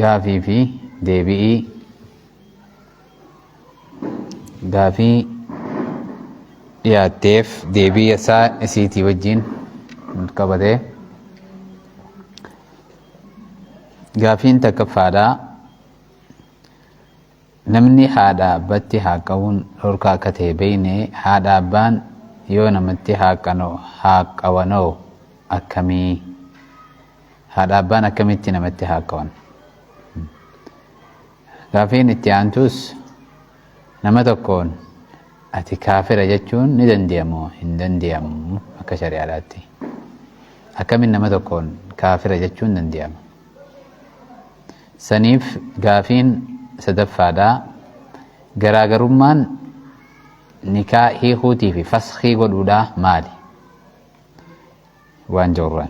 gaafii fi deebi'ii gaafii dhiyaatteef deebii isaa isiitii wajjin qabatee gaafiin takkaffaadhaa Namni haadhaa abbatti haaqqawuun dhorkaa akka ta'e beeyne haadhaa abbaan yoo namatti haaqqawanoo akkamii? Haadhaa abbaan akkamitti namatti haaqqawan? Gaafiin itti aantuus nama tokkoon ati kaafira jechuun ni dandeeyamoo hin dandeeyamu akka shari'aadhaatti? Akkamiin nama tokkoon kaafira jechuun dandeeyama? Saniif gaafiin sadaffaadha. Garaagarummaan nikaa hiikuutii fi faskhii godhuudhaa maali? Waan jawraan.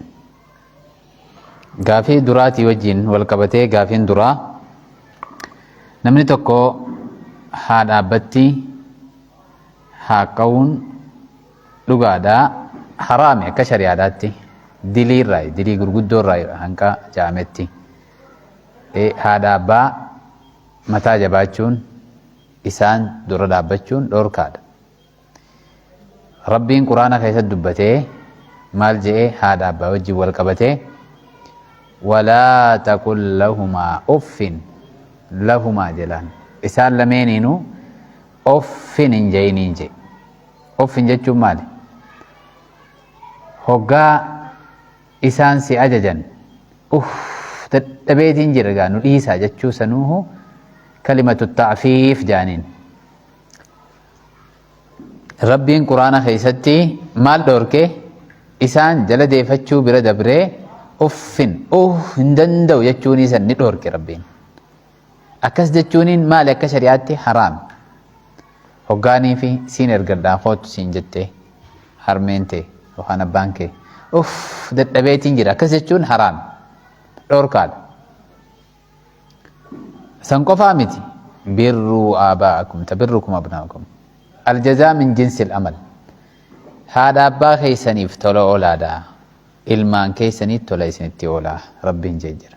Gaafii duraatii wajjin wal qabatee gaafiin duraa namni tokko haa dhaabbatti haa qawuun dhugaadhaa haraami akka shari'aadhaatti dilii irraa dilii gurguddoo irraa hanqa ja'ametti. haadha abbaa mataa jabaachuun isaan dura dhaabbachuun dhoorkaadha. Rabbiin quraana keessatti dubbatee maal je'ee haadha abbaa wajjin wal qabatee walaa taqul lahumaa uffin lahumaa jedhaan isaan lameeniinuu uffin hin je'iniin je'e. Uffin jechuun maali? Hoggaa isaan si ajajan uff dadhabeetiin jira gaa nu dhiisaa jechuu sanuuhu kalimatu ta'fiif jaaniin rabbiin quraana keessatti maal dhoorke isaan jala deefachuu bira dabree uffin uh hin danda'u jechuun isan ni dhoorke rabbiin Akkas jechuuniin maali akka shari'aatti haraami. Hoggaanii fi siin ergadhaa koottu siin jettee harmeen tee yookaan abbaan kee uff dadhabeetiin jira akkas jechuun haraami. Dhorkaadha. San qofaa miti birruu aabaa'akum tabirrukum abnaakum aljazaa min jinsil amal haadha abbaa keessaniif tola oolaadha ilmaan keessaniif tola isinitti oolaa rabbiin jee jira.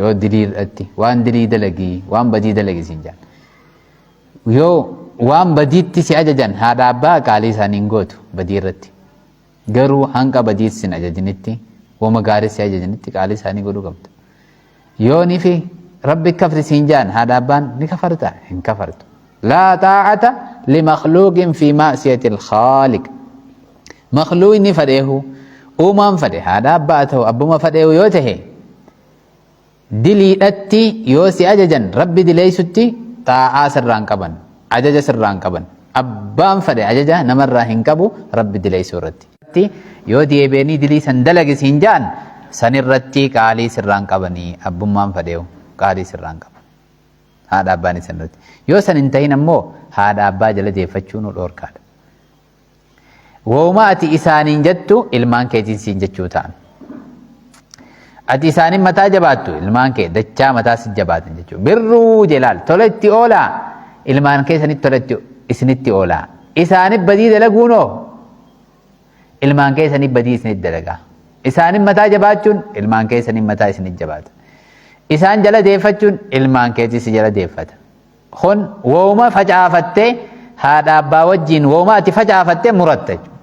yoo dilii irratti waan dilii dalagii waan badii dalagi siin jedhan yoo waan badiitti si ajajan haadha abbaa qaalii isaanii hin gootu badii irratti garuu hanga badii sin ajajinitti wama gaarii si ajajinitti qaalii isaanii godhuu qabda yoo nifi rabbi kafri siin jedhan haadha abbaan ni kafarta hin kafartu laa taa'ata limakluuqin fi maasiyati alkhaaliq makluu inni fadheehu uumaan fadhe haadha abbaa haa ta'u abbuma fadheehu yoo ta'e diliidhatti yoo si ajajan rabbi dileessutti xaa'aa sirraan qaban ajaja sirraan qaban abbaan fadhe ajaja namarraa hin qabu rabbi dileessuu irratti yoo deebi'anii dilii san dalagis hin ja'an san irratti qaalii sirraan qabanii abbummaan fadheehu qaalii sirraan qaban haadha abbaan isan irratti yoo san hin ta'in ammoo haadha abbaa jala deeffachuun dhorkaadha. Wooma ati isaaniin jettu ilmaan keetiin siin jechuu ta'an. Ati isaaniin mataa jabaattu ilmaan kee dachaa mataa si jabaatan jechuudha. Birruu jelaal tola itti oolaa ilmaan keessanitti tola itti isinitti oolaa. Isaaniif badii dalaguunoo ilmaan keessaniif badii isinitti dalagaa. Isaaniin mataa jabaachuun ilmaan keessaniin mataa isinitti jabaata. Isaan jala deeffachuun ilmaan keetii si jala deeffata. Kun wooma facaafattee haadha abbaa wajjin wooma ati facaafattee muratta jechuudha.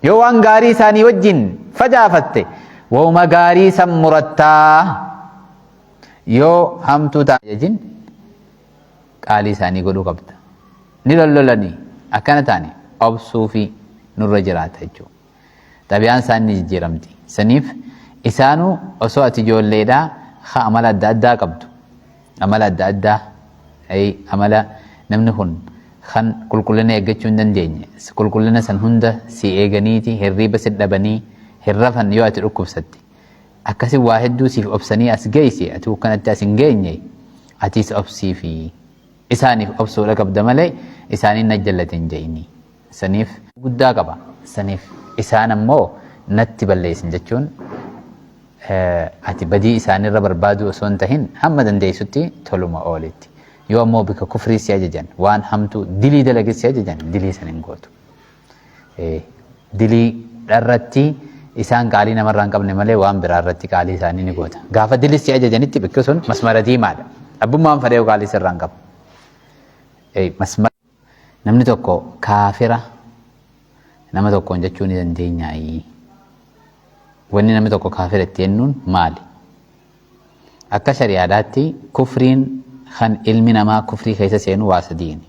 Yoo waan gaarii isaanii wajjin facaafatte wooma gaarii san murattaa yoo hamtuu ta'an jajin qaalii isaanii godhuu qabda. Ni lollolanii akkana ta'anii obsuu fi nurra jiraata jechuudha. xabiyaan isaan ni jijjiiramti saniif isaanu osoo ati ijoolleedha ha amala adda addaa qabdu amala adda addaa ay amala namni kun kan qulqullina eeggachuu hin dandeenye qulqullina san hunda si eeganiiti hirriiba si dhabanii hin rafan yoo ati dhukkubsatte akkasi waa hedduu siif obsanii as geeyse ati kanatti as hin geenye atiis obsiifi isaaniif obsuudha qabda malee isaaniin na jallate hin ja'ini saniif guddaa qaba saniif isaan ammoo natti balleessin jechuun ati badii isaanirra barbaaduu osoo hin tahin hamma dandeessutti toluma oolitti yoo ammoo bika kufrii si ajajan waan hamtuu dilii dalage si ajajan dilii san hin gootu dilii dharratti isaan qaalii namarraa hin qabne malee waan biraa irratti qaalii isaanii ni goota gaafa dilii si ajajanitti bikki sun masmara diimaadha abbummaan fadhee qaalii sirraa hin qabu masmara Namni tokko kaafira nama tokkoon jechuu ni dandeenyaayii? Wanni namni tokko kaafira itti jennuun maali? Akka shari'aadhaatti kufriin kan ilmi namaa kufrii keessa seenu waa sadiini.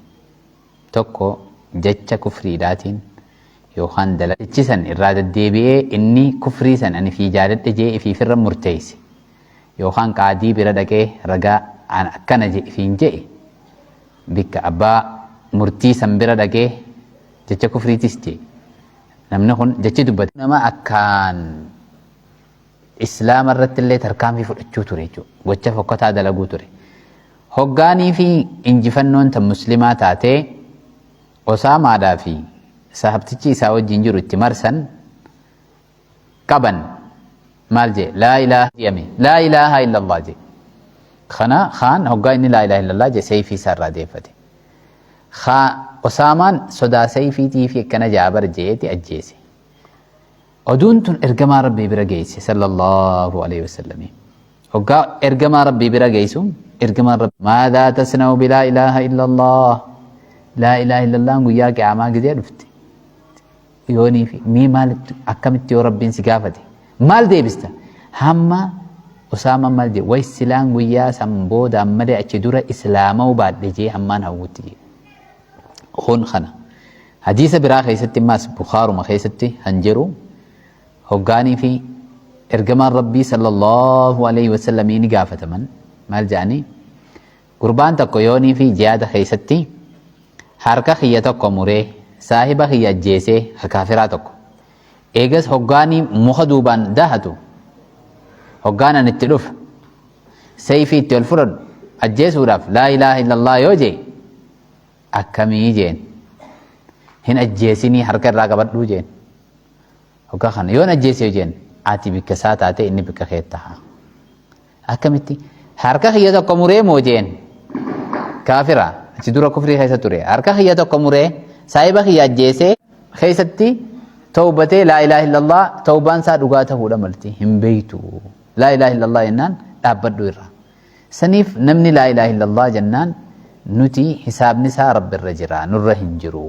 Tokko jecha kufriidhaatiin yookaan dalagchi san irraa deddeebi'ee inni kufrii san ani fii jaaladhe jee ifiifirra murteeyse yookaan qaadii bira dhaqee ragaa an akkana je ifiin je'e bikka abbaa murtii san bira dhaqee jecha kufriitis jee namni kun jechi dubbate nama akkaan islaama irratti illee tarkaanfii fudhachuu ture jechuudha gocha fokkataa dalaguu ture hoggaanii fi injifannoon tan muslimaa taatee osaamaadhaa fi sahabtichi isaa wajjin jiru itti marsan qaban maal jee laa ilaaha jedhame laa ilaaha illallah jee kana kaan hoggaa inni laa ilaaha illallah jee seeyfii isaa irraa deeffate kaa osaamaan sodaa seeyfiitii fi akkana jaabar jeeti ajjeese oduun tun ergamaa rabbii bira geeyse sallallahu alaihi wasallam hoggaa ergamaa rabbii bira geeysu ergamaan rabbii maadaa tasna'u bilaa ilaaha illallah laa ilaaha illallah guyyaa qiyaamaa gizee dhufte yoonii fi mii maal akkamitti yoo rabbiin si gaafate maal deebista hamma usaama maal jee way silaan guyyaa san booda ammalee achi dura islaama'uu baadhe jee hammaan hawwutti jee kun kana hadiisa biraa keessatti maas bukaaruma keessatti kan jiru hoggaanii fi ergamaan rabbii sallallahu alaihi wasallamii ni gaafataman maal jedhanii Gurbaan tokko yoonii fi jihaada keessatti harka kiyya tokko muree saahiba kiyya ajjeesee ka kaafiraa tokko eegas hoggaanii muka duubaan dahatu hoggaan an itti dhufu seeyfii itti ol fudhadhu ajjeesuudhaaf laa ilaaha illallah yoo jee akkamii jeen hin ajjeesinii harka irraa qabadhuu jeen hoggaa kana yoon ajjeese jeen ati bikka isaa taate inni bikka kee taha akkamitti harka kiyya tokko muree moo jeen kaafira achi dura kufrii keessa ture harka kiyya tokko muree saahiba kiyya ajjeesee keessatti tawbatee laa ilaaha illallah tawbaan isaa dhugaa ta'uudha malti hin beektu laa ilaaha illallah jennaan dhaabbadhu irra saniif namni laa ilaaha illallah jennaan nuti hisaabni isaa rabbi irra jira nurra hin jiru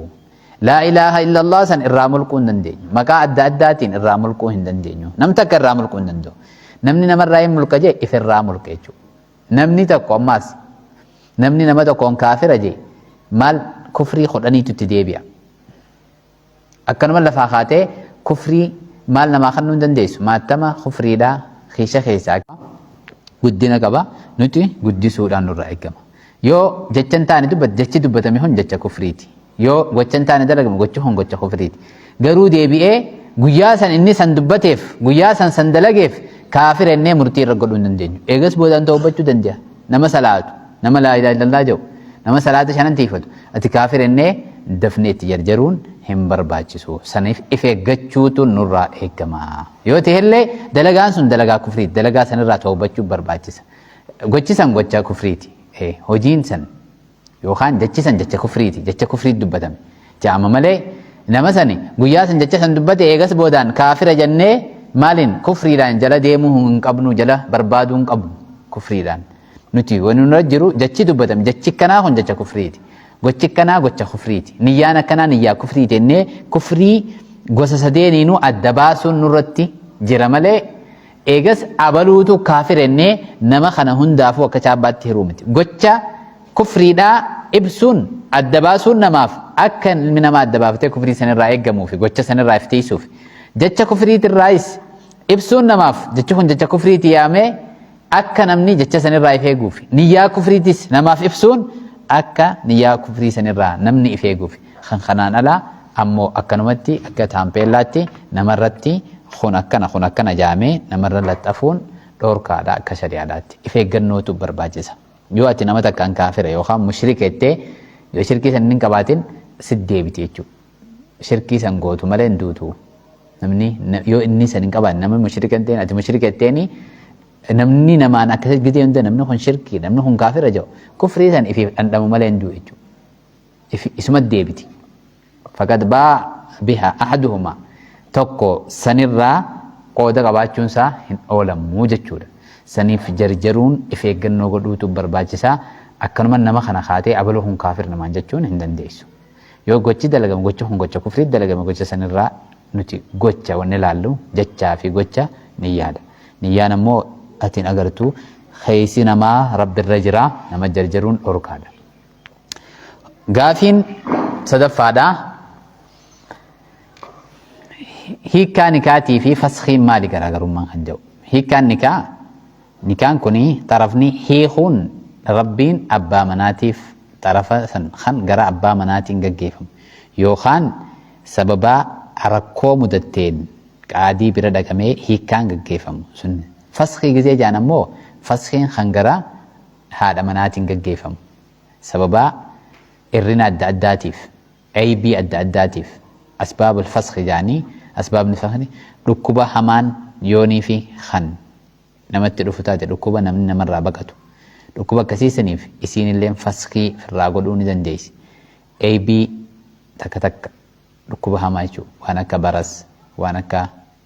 Laa ilaaha illallah san irraa mulquu hin dandeenyu. Maqaa adda addaatiin irraa mulquu hin dandeenyu. Nam takka irraa mulquu hin danda'u. Namni namarraa hin mulqa jee ifirraa mulqa jechuudha. Namni tokko ammaas namni nama tokkoon kaafira jee maal kufrii kudhaniitu itti deebi'a. Akkanuma lafaa kaatee kufrii maal namaa kennuu hin dandeessu. Maattama kufriidhaa keessa keessaa guddina qaba nuti guddisuudhaan nurraa eegama. Yoo jecha hin taane dubbate jechi dubbatame hun jecha kufriiti. Yoo gocha hin taane dalagame gochi hun gocha kufriiti. Garuu deebi'ee guyyaa san inni san dubbateef guyyaa san san dalageef kaafira innee murtii irra godhuu hin dandeenyu. Eegas boodaan tawbachuu danda'a. Nama salaatu, nama laa ilaaha illallah jedhu, nama salaata shanan tiifatu. Ati kaafira innee dafnee itti jarjaruun hin barbaachisu. Saniif if eeggachuutu nurraa eeggama. Yoo ta'ellee dalagaan sun dalagaa kufriiti. Dalagaa sanirraa tawbachuu barbaachisa. Gochi san gocha kufriiti. Eh, hojiin san yookaan jechi san jecha kufriiti. Jecha kufriitti dubbatame. Ja'ama malee nama sani guyyaa san jecha san dubbate eegas boodaan kaafira jennee maaliin kufriidhaan jala deemuu hin qabnu jala barbaaduu hin qabnu kufriidhaan. Nuti wani nurra jiru jechi dubbatame jechi kanaa kun jecha kufriiti. Gochi kanaa gocha kufriiti. Niyyaan akkanaa niyyaa kufriiti jennee kufrii gosa sadeeniinuu adda baasuun nurratti jira malee Eegas abaluutu kaafira jennee nama kana hundaafuu akka chaabbaatti hiruu miti. Gocha kufriidhaa ibsuun adda baasuun namaaf akka ilmi namaa adda baafatee kufrii sanirraa eeggamuufi gocha sanirraa if tiisuufi. Jecha kufriitirraayis ibsuun namaaf jechi kun jecha kufriiti yaamee akka namni jecha sanirraa if eeguufi. Niyyaa kufriitis namaaf ibsuun akka niyyaa kufrii sanirraa namni if eeguufi. Kan kanaan alaa ammoo akkanumatti akka taampeellaatti namarratti kun akkana kun akkana jaamee namarra laxxafuun dhoorkaadha akka shari'aadhaatti. If eeggannootu barbaachisa. Yoo ati nama takkaan kaafira yookaan mushrika jettee yoo shirkii san hin qabaatin sit deebiti jechuudha. Shirkii san gootu malee hin duutu. Namni yoo inni san hin qabaanne namni mushrika hin ta'in ati mushrika jetteeni namni namaan akkasitti gidee hunda namni kun shirkii namni kun kaafira jedhu kufrii san ifiif dhandhamu malee hin du'u jechuudha. ifi- isumatti deebiti faqad baa biha ahaduhuma tokko sanirraa qooda qabaachuun isaa hin oolamuu jechuudha saniif jarjaruun if eeggannoo godhuutu barbaachisaa akkanuma nama kana kaatee abaluu kun kaafir namaan jechuun hin dandeessu yoo gochi dalagame gochi kun gocha kufrii dalagame gocha sanirraa nuti gocha wanni laallu jechaa fi gocha niyyaadha niyyaan ammoo atiin agartu keeysi namaa rabbirra jira nama jarjaruun dhorkaadha gaafiin sadaffaadha hiikkaa nikaatii fi faskiin maali garaagarummaan kan jedhu hiikkaan nikaa nikaan kun xarafni hiikuun rabbiin abbaa manaatiif xarafa san kan gara abbaa manaatiin gaggeeffamu yookaan sababaa rakkoo mudatteen qaadii bira dhaqamee hiikkaan gaggeeffamu sun faskii gizee jaan ammoo faskiin kan gara haadha manaatiin gaggeefamu sababaa irrina adda addaatiif, aybii adda addaatiif, asbaab al-faskhi ja'anii, asbaabni faskhi dhukkuba hamaan yooniifi kan namatti dhufu taate dhukkuba namni namarraa baqatu dhukkuba akkasii saniif isiinilleen faskii firraa godhuu ni dandeeysi. aybii takka takka dhukkuba hamaa jechuu waan akka baras waan akka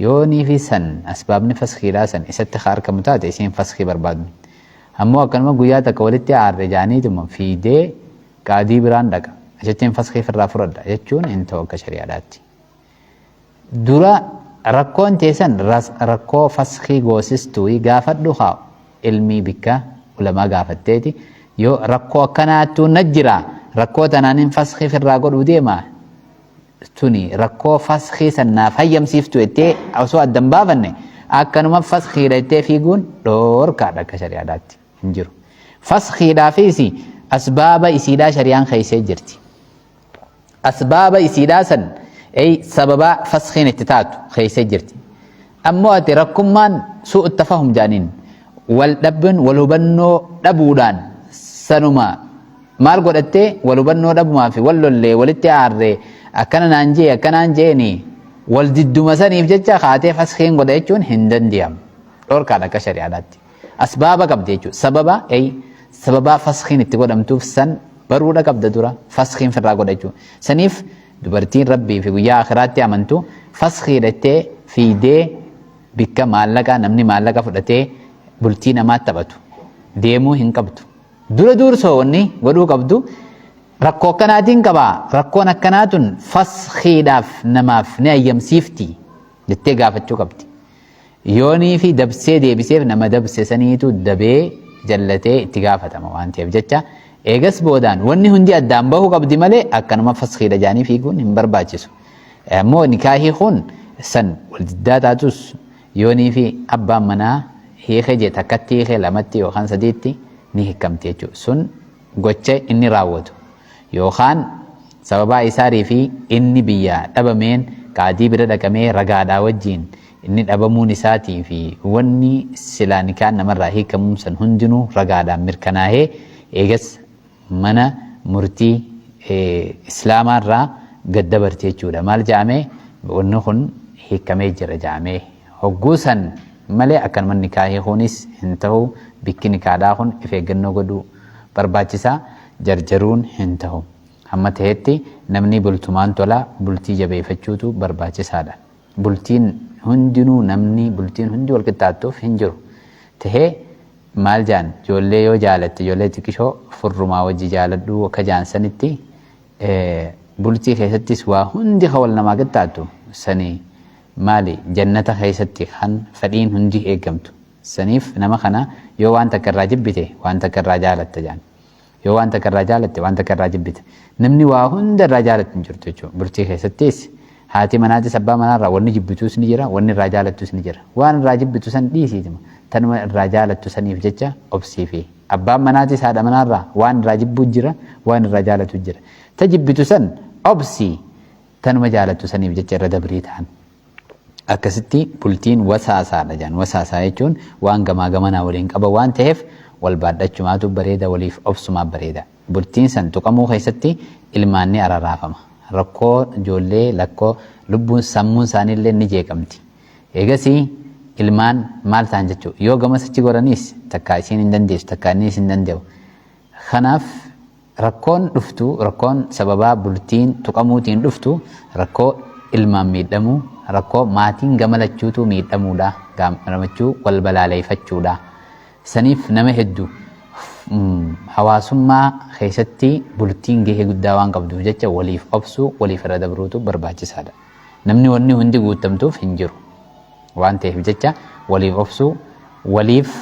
Yoo niifi san asbaabni faskiidhaa san isatti ka arkamu taate isiin faskii barbaadni. Ammoo akkanuma guyyaa takka walitti aarre jaaniituma fiiydee qaadii biraan dhaqa. Achittiin faskii firraa furadha jechuun hin ta'u akka shari'aadhaatti. Dura rakkoon tee san rakkoo faskii goosistuuyi gaafadhu haa ilmii bikka ulamaa gaafatteeti yoo rakkoo akkanaattuu na jira rakkoo tanaanin faskii firraa godhuu deema tuni rakkoo faskii san naaf hayyamsiiftu jettee osoo adda hin baafanne akkanuma faskiidha jettee fiiguun dhoorkaadha akka shari'aadhaatti hin jiru. Faskiidhaafis asbaaba isiidhaa shari'aan keessee jirti. Asbaaba isiidhaa san sababa faskiin itti taatu keessee jirti. Ammoo ati rakkummaan su'u attafahum jaaniin wal dhabbiin wal hubannoo dhabuudhaan sanuma maal godhattee wal hubannoo dhabumaa fi wal lollee walitti aarree akkana naan jee akkanaan jeeni wal didduma saniif jecha kaatee faskiin godha jechuun hin dandiyamu dhorkaadha akka shari'aadhaatti. Asbaaba qabda jechuudha. Sababa ay sababaa faskiin itti godhamtuuf san baruudha qabda dura faskiin firraa godha jechuudha. Saniif dubartiin rabbii fi guyyaa akiraatti amantu faskii dhattee fiidee bikka maallaqa namni maallaqa fudhatee bultii namaa taphatu deemuu hin qabdu. Dura duursoo wanni godhuu qabdu rakkoo akkanaatiin qabaa rakkoon akkanaa tun faskiidhaaf namaaf ni ayyamsiifti jettee gaafachuu qabdi. Yoonii fi dabsee deebiseef nama dabse saniitu dabee jallatee itti gaafatama waan ta'eef jecha eegas boodaan wanni hundi addaan bahu qabdi malee akkanuma faskiidha jaanii fiiguun hin barbaachisu. Ammoo nikaahii kun san wal diddaa taatus yoonii fi abbaan manaa hiike jee takkatti hiike lamatti yookaan sadiitti ni hiikamti jechuudha. Sun gocha inni raawwatu. yookaan sababaa isaarii fi inni biyyaa dhabameen qaadii bira dhaqamee ragaadhaa wajjiin inni dhabamuun isaatii fi wanni silaa nikaan namarraa hiikamuun san hundinuu ragaadhaan mirkanaahee eegas mana murtii islaamaarraa gad dabarti jechuudha maal ja'amee wanni kun hiikamee jira ja'amee Hogguu san malee akkanuman nikaah hiikuunis hin tahu, bikki nikaadhaa kun if eeggannoo godhuu barbaachisa, jarjaruun hin tahu. Hamma tahetti namni bultumaan tola, bultii jabeeyfachuutu barbaachisaadha. Bultiin hundinuu namni bultiin hundi wal qixxaattuuf hin jiru. Tahee maal jaan joollee yoo jaalatte joollee xiqishoo furrumaa wajji jaaladhuu akka jaan sanitti bultii keessattis waa hundi ka wal namaa qixxaattu sani Maali jannata keessatti kan fedhiin hundi eegamtu. Saniif nama kana yoo waan takka irraa jibbite waan takka irraa jaalatta jedhan. Yoo waan takka irraa jaalatte waan takka irraa jibbita. Namni waa hunda irraa jaalatu hin jirtu jechuudha. Bultii keessattis haati manaatis abbaa manaarraa wanni jibbituus ni jira wanni irraa jaalattus ni jira. Waan irraa jibbitu san dhiisiituma tanuma irraa jaalattu saniif jecha obsiifi. Abbaan manaatis haadha manaarraa waan irraa jibbuu jira waan irraa jaalatu jira. Ta jibbitu san obsii. Tanuma jaalattu saniif jecha irra dabrii ta'an. Akkasitti bultiin wasaasaadha jedhan. Wasaasaa jechuun waan gamaa gamanaa waliin qaban waan ta'eef wal baadhachumaatu bareeda waliif obsumaaf bareeda. Bultiin san tuqamuu keessatti ilmaan ni araraafama. Rakkoo ijoollee lakkoo lubbuun sammuun isaaniillee ni jeeqamti. Eegasii ilmaan maal ta'an jechuudha. Yoo gamas achi goraniis takkaa isiin hin dandeessu takkaa inniis hin danda'u. Kanaaf Rakkoon dhuftu rakkoon sababaa bultiin tuqamuutiin dhuftu rakkoo ilmaan miidhamuu, rakkoo maatiin gama lachuutuu miidhamuudha, gaamramachuu, wal balaaleeyfachuudha. Saniif nama heddu hawaasummaa keeysatti bultiin gahee guddaa waan qabduuf jecha waliif obsuu, waliif irra dabruutu barbaachisaadha. Namni wanni hundi guuttamtuuf hin jiru. Waan ta'eef jecha waliif obsuu, waliif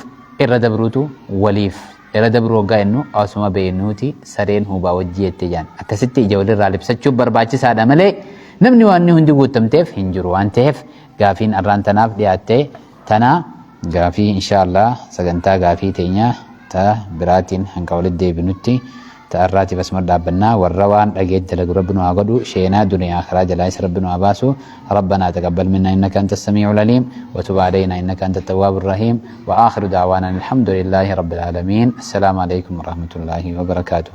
irra dabruutu waliif irra dabruu hoggaa jennu asuma beeynuuti sareen huubaa wajji jette jaan. Akkasitti ija walirraa libsachuun barbaachisaadha malee namni waanni hundi guuttamteef hin jiru waan ta'eef gaafiin arraan tanaaf dhiyaatte Tanaa gaafii inshaa allaah sagantaa gaafii teenya ta biraatiin hanga walit deebinutti ta arraatiif asuma dhaabbannaa warra waan dhageet dalagu rabbi nu haa godhu sheenaa duniyaa akhiraa jalaais rabbi nu haa baasu rabbanaa taqabbal minnaa innaka anta assamii'ul aliim wa tub aleeynaa innaka anta attawwaabur rahiim wa aakhiru da'waanaa anil hamdulillaahi rabbil aalamiin assalaamu aleykum warahmatullaahi wabarakaatuh